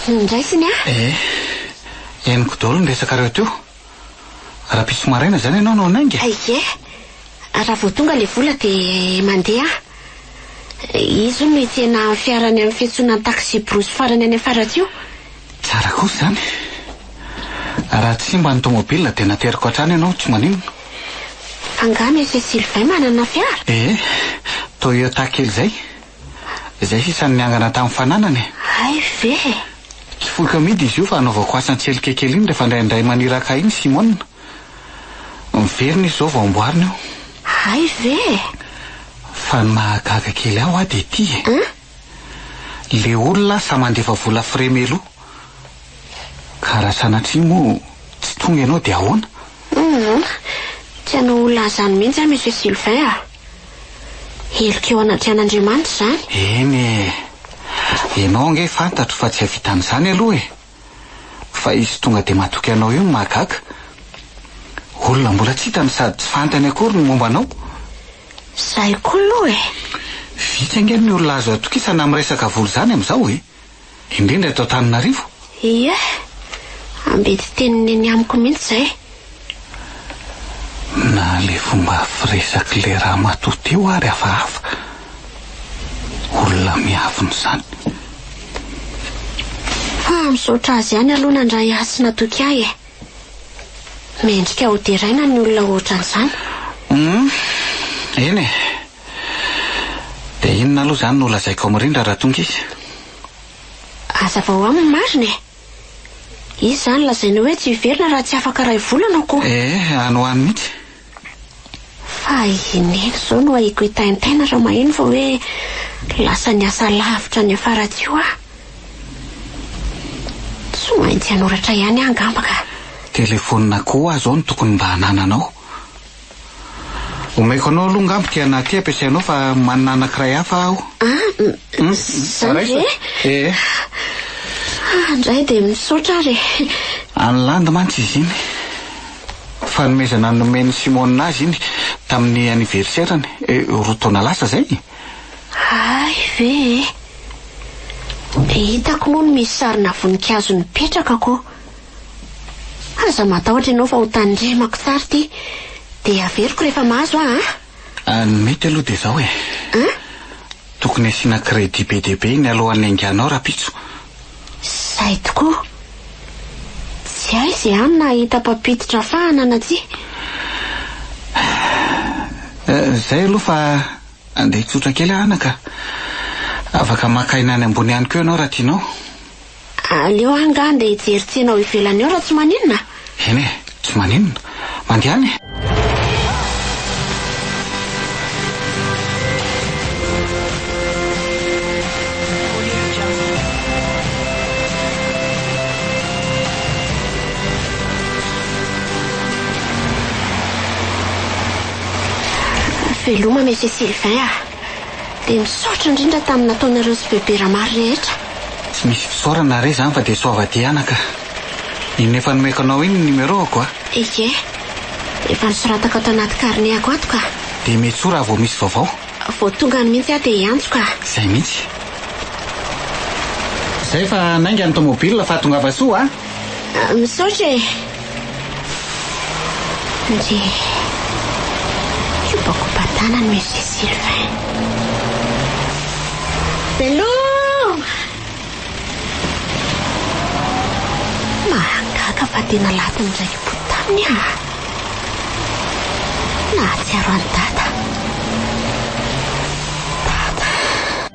Tsy nindraisiny aho. Ee, henoko daholo ny resakareo teo. Rahampitso maraina izany ianao no hanainga? Ie, raha vao tonga ilay vola dia mandeha aho. Izy hono no hitsena amin'ny fiarany amin'ny fiantsonan'ny taxi-brousse farany any Faratsiho. Tsara kosa izany. Raha tsy simba ny tomobila dia nateriko hatrany ianao tsy maninona. Fa angaha Monsieur Sylvain manana fiara? Ee, Toyota kely izay. Izay sisa no niangana tamin'ny fananana e! Hay ve e! Tsy foiko amidy izy io fa anaovako asa an-tselika kely iny rehefa indraindray maniraka ahy iny Simona. Miverina izy izao vao amboarina io. Hay ve e! Fa ny mahagaga kely ahy hoa dia ity e! An? Le olona sahy mandefa vola frais meloa. Ka raha sanatria moa tsy tonga ianao dia ahoana? Hum, tsy hanao olona an'izany mihitsy aho Monsieur Sylvain a! Heloka eo anatrehan'Andriamanitra izany? Eny e! Ianao ange fantatro fa tsy hahavita an'izany aloha e! Fa izy tonga dia matoky anao io no mahagaga. Olona mbola tsy hitany sady tsy fantany akory ny momba anao. Izay koa aloha e! Vitsy ange ny olona azo atokisana amin'ny resaka vola izany amin'izao e! indrindra eto Antananarivo? Ie, ambidy teniny eny amiko mihitsy izay. Na le fomba firesak'i le ramatoa teo ary hafahafa. Olona miavona izany. Fa misaotra azy ihany aloha nandray ahy sy natoky ahy e. Mendrika ho deraina ny olona ohatran'izany. Humm, eny e. Dia inona aloha izany no ho lazaiko ao mirindra raha tonga izy? Hazavao aminy marina e! Izy izany lazainy hoe tsy hiverina raha tsy afaka iray volana aho koa. Ee, any ho any mihitsy. Fa i Neny izao no ahiako hitaintaina raha maheno fa hoe lasa niasa lavitra any Faratsiho aho. Tsy maintsy hanoratra ihany aho angamba ka. Telefonina koa izao no tokony mba hanananao. Omeko anao aloha angamba ity anah ity ampiasainao fa manana anankiray hafa aho. Ah, izany ve? Eh. Ah, indray dia misaotra ary e. An'i Landy mantsy izy iny. Fanomezana nomen'i Simona azy iny tamin'ny anniversaire-ny eh, roa taona lasa izay. Hay ve e. Hitako moa ny misy sarina voninkazo nipetraka ko. Aza matahotra ianao fa ho tandremako tsara ity. Dia averiko rehefa mahazo aho an! Ah, ny mety aloha dia izao e. An? Tokony asiana credit be dia be iny alohan'ny hainganao rahampitso. Izay tokoa. Tsy hay izay ihany na hahita mpampiditra fahana na tsia. Eh, izay aloha fa andeha tsotra kely aho anaka. Afaka maka aina any ambony ihany koa ianao raha tianao. Aleo aho angaha handeha hijery tsena ao ivelany ao raha tsy maninona a! Eny e, tsy maninona. Mandehana e! Veloma Monsieur Sylvain a! Dia misaotra indrindra tamin'ny nataonareo sy Bebe Rama rehetra. Tsy misy fisaorana re izany fa dia soava diana ka. Inona efa nomeko anao iny ny numéro-ko a? Eke. Efa nosoratako ato anaty carnet-ko ato ka. Dia metsoa raha vao misy vaovao. Vao tonga any mihitsy aho dia hiantso ka. Izay mihitsy. Izay fa nainga ny tomobile, fahatongava soa a! Misaotra e. Nje kopakopa-tanany Monsieur Sylvain. Bello! Mahagaga fa tena latin'ny raiki-po taminy ah. Nahatsiaro an'i Dada.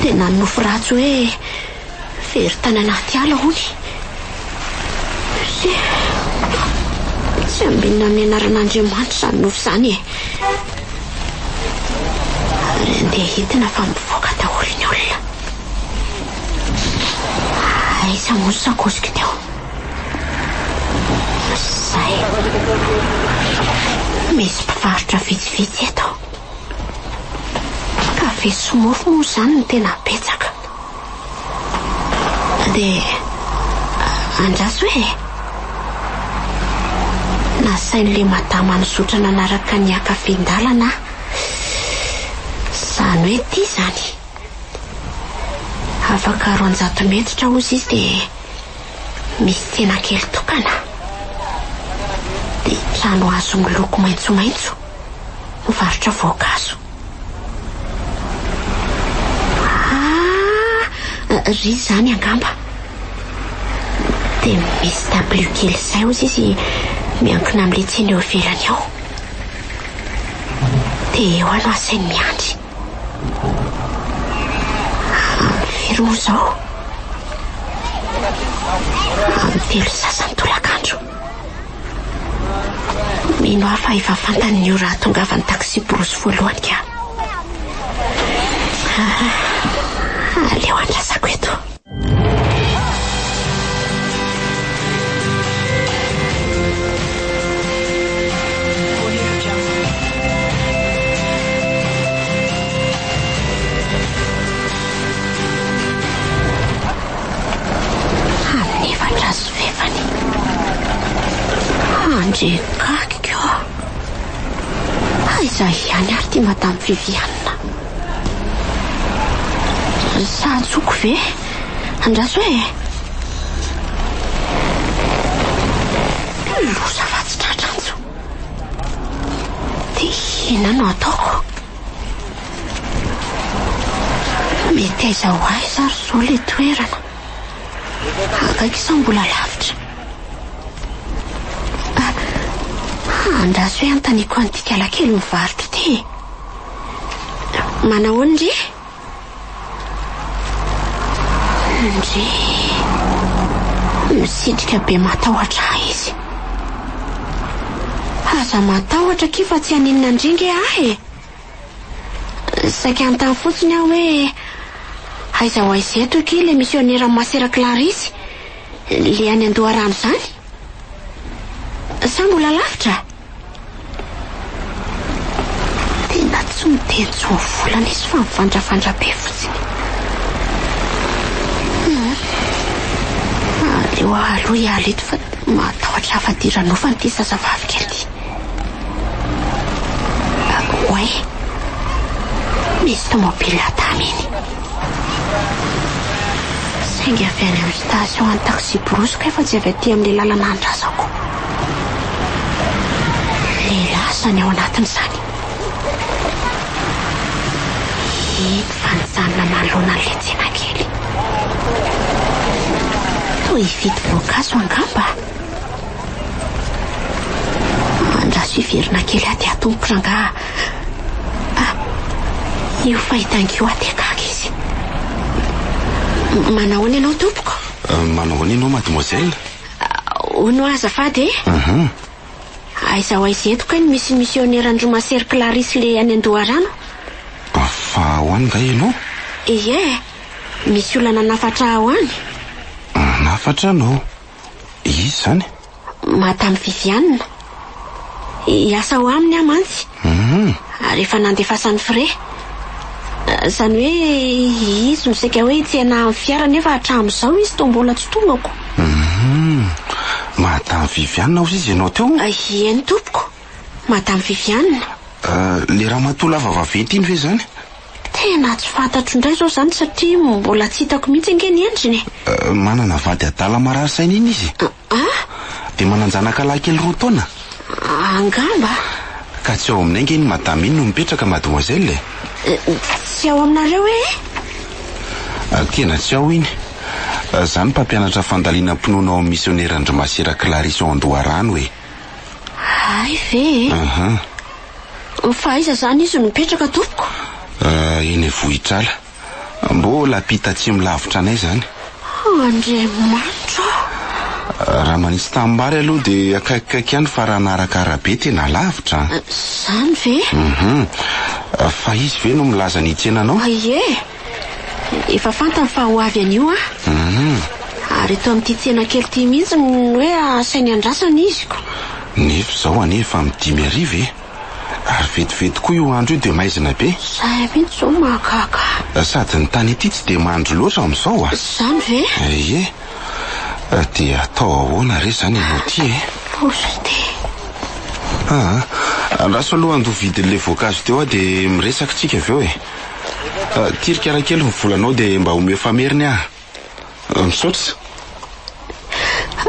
Tena nofy ratsy hoe very tany anaty ala hono. Tsy ambinina amin'ny anaran'Andriamanitra izany nofy izany e. Ary andeha hitina fa mivoaka daholo ny olona. Aiza moa ny sakosiko teo? Izay. Misy mpivarotra vitsivitsy eto. Kafe sy mofo moa izany no tena betsaka. Dia andraso e! Nasain'ilay madama nizotra nanaraka ny hiakafin-dalana aho. Izany hoe ity izany. Afaka roanjato metatra hozy izy dia misy tsena kely tokana. Dia trano hazo miloko maitsomaitso. Mivarotra voankazo. Ah! Ry izany angamba. Dia misy dabilio kely izay hozy izy miankina amin'ilay tsena eo ivelany eo. Dia eo aho no asainy miandry. Amin'ny firy moa izao? Amin'ny telo sy sasany tolakandro. Mino aho fa efa fantany ny ora hahatongavan'ny taxi-brousse voalohany ka. Aleo andrasako eto. Amin'ny efatra ora. fefany. Andry gaga koo. Aiza ihany ary ity Madame Viviane. Sa antsoko ve? Andraso e. Loza fa tsy tratra antso. Dia inona no ataoko? Meteza ho aiza ary izao ilay toerana? Akaiky sa mbola lavitra? Ah, andraso hoe hanontaniako an'ity kalakely mivarotra ity e. Manahoana ndry? Ndry. Misitrika be matahotra ahy izy. Aza matahotra akia fa tsy haninona ndry nge ahy e. Saika anontany fotsiny aho hoe aiza ho aiza eto akia ilay misionera masera Clarice, ilay any an-doharano izany? Sa mbola lavitra? Tena tsy miteny tsy ho volana izy fa mivandravandra be fotsiny. Aleo aloha hiala eto fa matahotra hafa-dira nofana ity zazavavy kely ity. Oay! Misy tomobilina taminy. Saingy avy any amin'ny station an'ny taxi brusque fa tsy avy aty amin'ilay lalana andrasako. Lehilahy izany ao anatiny izany. Hita fa nijanona manoloana an'ilay tsenakely. Toa hividy voankazo angamba? Andraso hiverina kely aty aho tompoko rangaha a! Io fahitànko io aty akaiky izy. Manahoana ianao tompoko? Manahoana ianao mademoiselle? Hono aho azafady e! Aha. Aiza ho aiza eto kay no misy misioneran'i Romasery Clarisse le any Andoharano? Fa ao any nga ianao? Ie, misy olona nanafatra ahy ho any. Nanafatra anao. Izy izany? Madame Viviane. Hiasa ao aminy aho mantsy. Hum. Ary efa nandefasany frais. Izany hoe izy no saika hoe hitsena amin'ny fiara nefa hatramin'izao izy toa mbola tsy tongako. Hum. Madame Viviane hozy izy ianao teo? Ieny tompoko. Madame Viviane. Euh, le ramatoa lava vaventy iny ve izany? Tena tsy fantatro indray izao izany satria mbola tsy hitako mihitsy ange ny endriny e! Manana vady adala marary saina iny izy e! Ah? Dia manan-janaka lahy kely roa taona? Angamba. Ka tsy ao aminay ange iny madama iny no mipetraka mademoiselle e! Tsy ao aminareo ee? Tena tsy ao iny. Za ny mpampianatra fandalinam-pinoana ao amin'ny Misionera an-dry Masera Clarisse ao Andoharano e! Hay ve e? Aha. Fa aiza izany izy no mipetraka tompoko? Uh, eny Vohitrala. Mbola ampita atsimo lavitra anay izany. Oh, Andriamanitra ah, Raha manisy tanimbary aloha dia akaikikaiky ihany fa raha naraka arabe tena lavitra. Izany ve? Mhm. Fa izy ve no milaza ny hitsena anao? Ie. Efa fantany fa ho avy anio aho. Ary eto amin'ity tsena kely ity mihitsy no hoe asainy andrasana izy ko. Nefa izao anie efa amin'ny dimy hariva e. Ary vetivety koa io andro io dia maizina be. Izay mihitsy izao no mahagaga ahy. Sady ny tany ety tsy dia mandry loatra amin'izao a. Izany ve? Ie. Dia atao ahoana re izany ianao ity e? Ozy ity. Aa, andraso aloha handoa vidin'ilay voankazo teo aho dia miresaka tsika avy eo e. Tirika raha kely ny volanao dia mba omeo fameriny ah. Misaotra.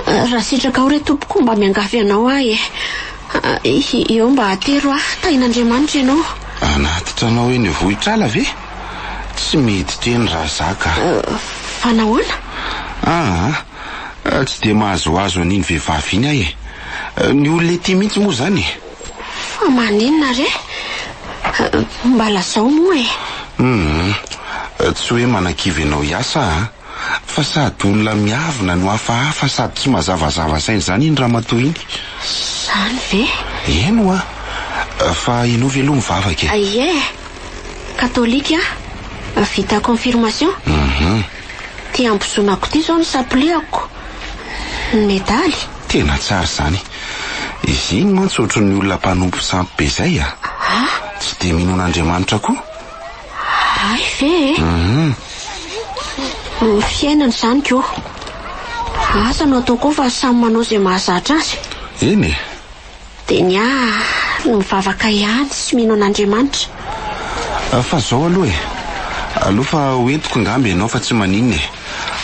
Raha sitrakao re tompoko mba miangavy anao ahy e. Eh. Eo mba atero ah. Tahin'Andriamanitra ianao. Anaty tranao eny Vohitr'ala ve? Tsy mety teny raha za ka. Fa nahoana? Ah. Tsy dia mahazoazo an'iny vehivavy iny aho e. Ny olona ety mihitsy moa izany e. Fa maninona re? Mba lazao moa e! Hum. Tsy hoe manakivy anao hiasa an! Fa sady olona miavona no hafahafa sady tsy mazavazava saina izany iny ramatoa iny. Izany ve? Eny hoa! Fa ianao ve aloha mivavaka e? Ie! Katolika aho. Vita confirmation. Hum. Ty ambozonako ty zao no sapoliako ny medaly. Tena tsara izany. Izy iny mantsy ohatran'ny olona mpanompo sampy be izay a! Tsy dia mino an'Andriamanitra koa. Hay ve e! Ny fiainana izany ko. Asa no atao koa fa samy manao izay mahazatra azy. Eny e! Dia ny ahy no mivavaka ihany sy mino an'Andriamanitra. Ah, fa zao aloha e! Aleo fa ho entiko ngamba ianao fa tsy maninona e!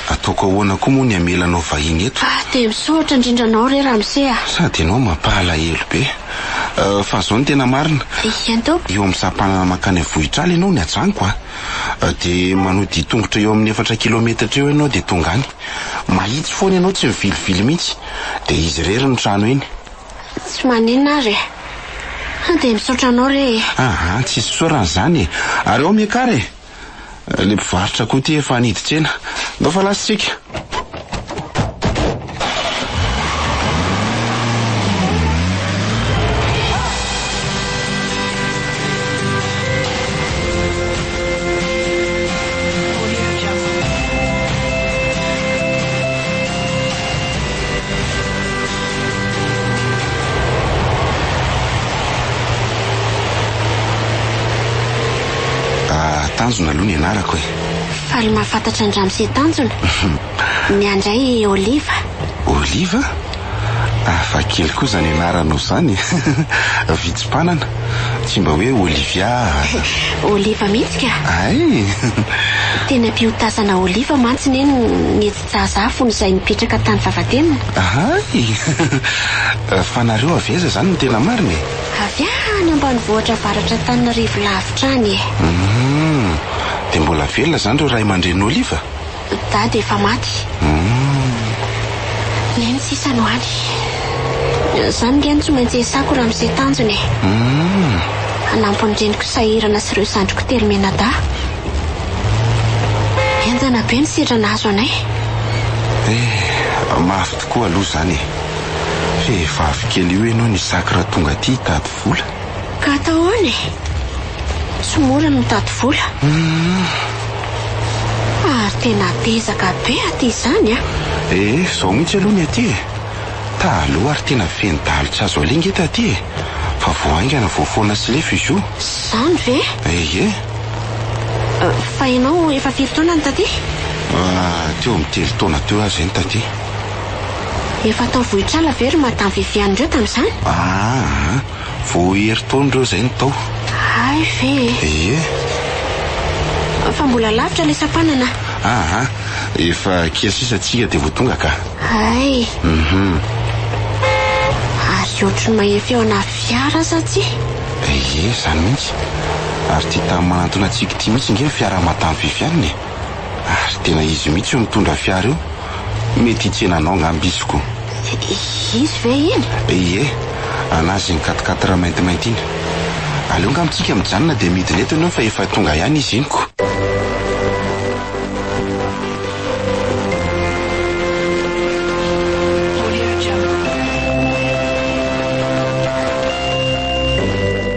Ataoko ahoana koa moa ny hamela anao vahiny eto? Ah, dia misaotra indrindra anao re ramose a! Sady ianao mampalahelo be. Ah, fa zao ny tena marina. Eny tompoko. Eo amin'ny sampanana mankany amin'ny vohitr'ala ianao ny ajanoko a! Ah, dia manodian-tongotra eo amin'ny efatra kilometatra eo ianao dia tonga any. Mahitsy foana ianao tsy mivilivily mihitsy. Dia izy irery ny trano iny. Tsy maninona ary e. An dia misaotra anao re e. Aha, tsy isaorana izany e. Ary ao Mekar e. Ilay mpivarotra koa ity efa nidin-tsena. Ndao fa lasa isika. Ah, tanjona aloha ny anarako e. Faly mahafantatra an-dRamose sy Tanjona. Miandray Oliva. Oliva? Hafa kely koa izany anaranao izany e. Vitsy mpanana. Tsy mba hoe Olivia. Oliva mihitsy ka. Ay! Tena mpiotasana Oliva mantsy neny ny Zahazah fony izay nipetraka tany Vavatenina. Ahay! Fa nareo avy aiza izany no tena marina e? Avy any ambanivohitra avaratr'Antananarivo lavitra any e! Hum! Dia mbola velona izany ireo ray aman-drenin'i Oliva? Dada efa maty. Hum! Neny sisa no any. Izany ange no tsy maintsy iasako raha miseho tanjona e! Hum! Hanampy ny reniko sahirana sy ireo zandriko telo mianadahy. Henjana be ny sedra nahazo anay. Eh, mafy tokoa aloha izany e. Vehivavy kely io ianao nisaky raha tonga aty hitady vola. Ka atao ahoana e? Tsy mora ny mitady vola. Ary tena dezaka be aty izany an! Eh, izao mihitsy aloha ny aty e. Taloha ary tena feno dahalo tsy azo alia nge taty e. Fa vao haingana vao foana sy lefy izy io. Izany ve? Ehe. Fa ianao efa firy taona ny taty? Teo amin'ny telo taona teo aho izay ny taty. Efa tao Vohitr'ala ve ry Madame Viviane ireo tamin'izany? Aa, vao herintaona ireo izay no tao. Hay ve e! Ie. Fa mbola lavitra ilay sampanana. Aa, efa kely sisa tsika dia vao tonga ka. Hay. Ary ohatry ny mahefeo ana fiara aza aty. Ie, izany mihitsy. Ary ty tam manantona tsiky ty mihitsy nge ny fiara madame Viviane e! Ary tena izy mihitsy io nitondra fiara io, mety hitsena anao ngamba izy ko. Izy ve iny? Ie, anazy iny quatre quatre maintimainty iny. Aleo ngamba tsika mijanona dia midina eto enao fa efa tonga ihany izy iny ko.